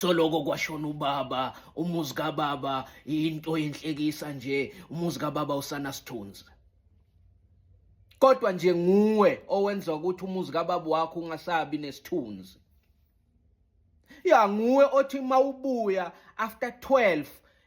Coloko kwashona ubaba, umuzi kababa into yenhlekisa nje, umuzi kababa usana sithunzi. Kodwa nje nguwe owenza ukuthi umuzi kababa wakho ungasabi nesithunzi. Ya nguwe othi mawubuya after 12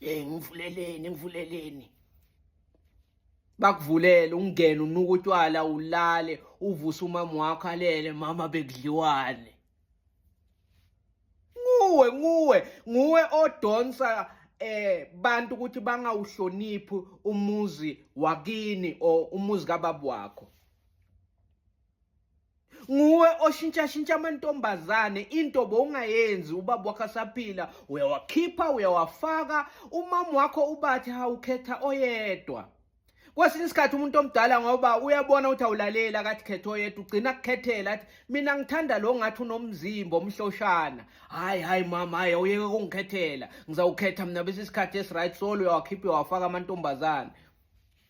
hey ngivuleleni ngivuleleni bakuvulele ungene unuka utywala ulale uvuse umama wakho alele mama bekudliwane nguwe nguwe nguwe odonsa eh bantu ukuthi bangawuhloniphi umuzi wakini or umuzi kababa wakho nguwe oshintshashintsha amantombazane into bowungayenzi ubaba wakho asaphila uyawakhipha uyawafaka umama wakho ubathi hawukhetha oyedwa kwesinye isikhathi umuntu omdala ngoba uyabona ukuthi awulaleli akathi khetha oyedwa ugcina kukhethela athi mina ngithanda lo ngathi unomzimba omhloshana hayi hayi mama hayi awuyeke kungikhethela ngizawukhetha mina bese isikhathi esiright solo uyawakhipha uyawakhipha uyawafaka amantombazane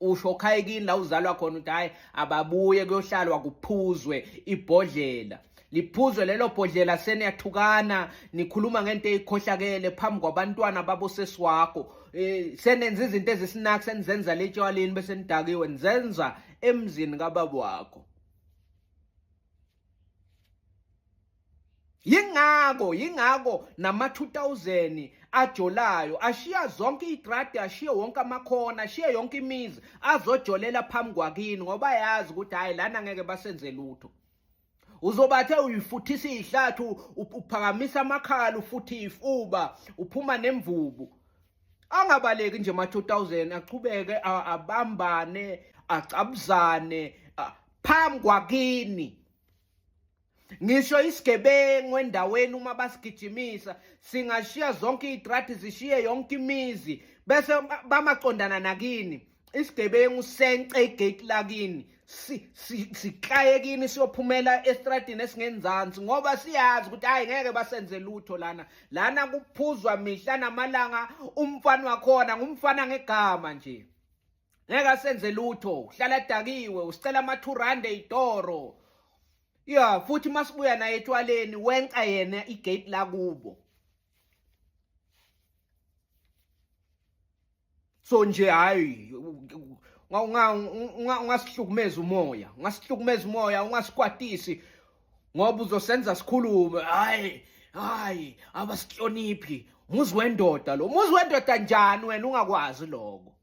usho okhayekini la uzalwa khona ukuthi hayi ababuye kuyohlalwa kuphuzwe ibhodlela liphuzwe lelo bhodlela seniyathukana nikhuluma ngento eyikhohlakele phambi kwabantwana babosesi wakho eh, senenza izinto ezisinaki senizenza letshwaleni bese nidakiwe nizenza emzini kababa wakho yingako yingako nama 2000 ajolayo ashiya zonke igradi ashiye wonke amakhona ashiye yonke imizi azojolela phambi kwakini ngoba yazi ukuthi hayi lana ngeke basenze lutho uzobathe uyifuthisa ihlathi uphakamisa amakhala ufuthi ifuba uphuma nemvubu angabaleki nje ma 2000 aqhubeke abambane acabuzane phambi kwakini Ngisho isigebengu endaweni uma basigijimisa singashiya zonke izitradi zishiye yonke imizi bese bamaqondana nakini isigebengu sence igate lakini siklaye kini siyophumela estradini esingenzansi ngoba siyazi ukuthi hayi ngeke basenze lutho lana lana kuphuzwa mihla namalanga umfana wakhona ngumfana ngegama nje ngeke asenze lutho uhlala dakiwe usicela ama 2 rand eyitoro ya futhi masibuya naye etshwaleni wenca yena igate lakubo so nje hayi ungasihlukumeza umoya ungasihlukumeza umoya ungasikwatisi ngoba uzosenza sikhulume hayi hayi abasihloniphi muzi wendoda lo muzi wendoda njani wena ungakwazi lokho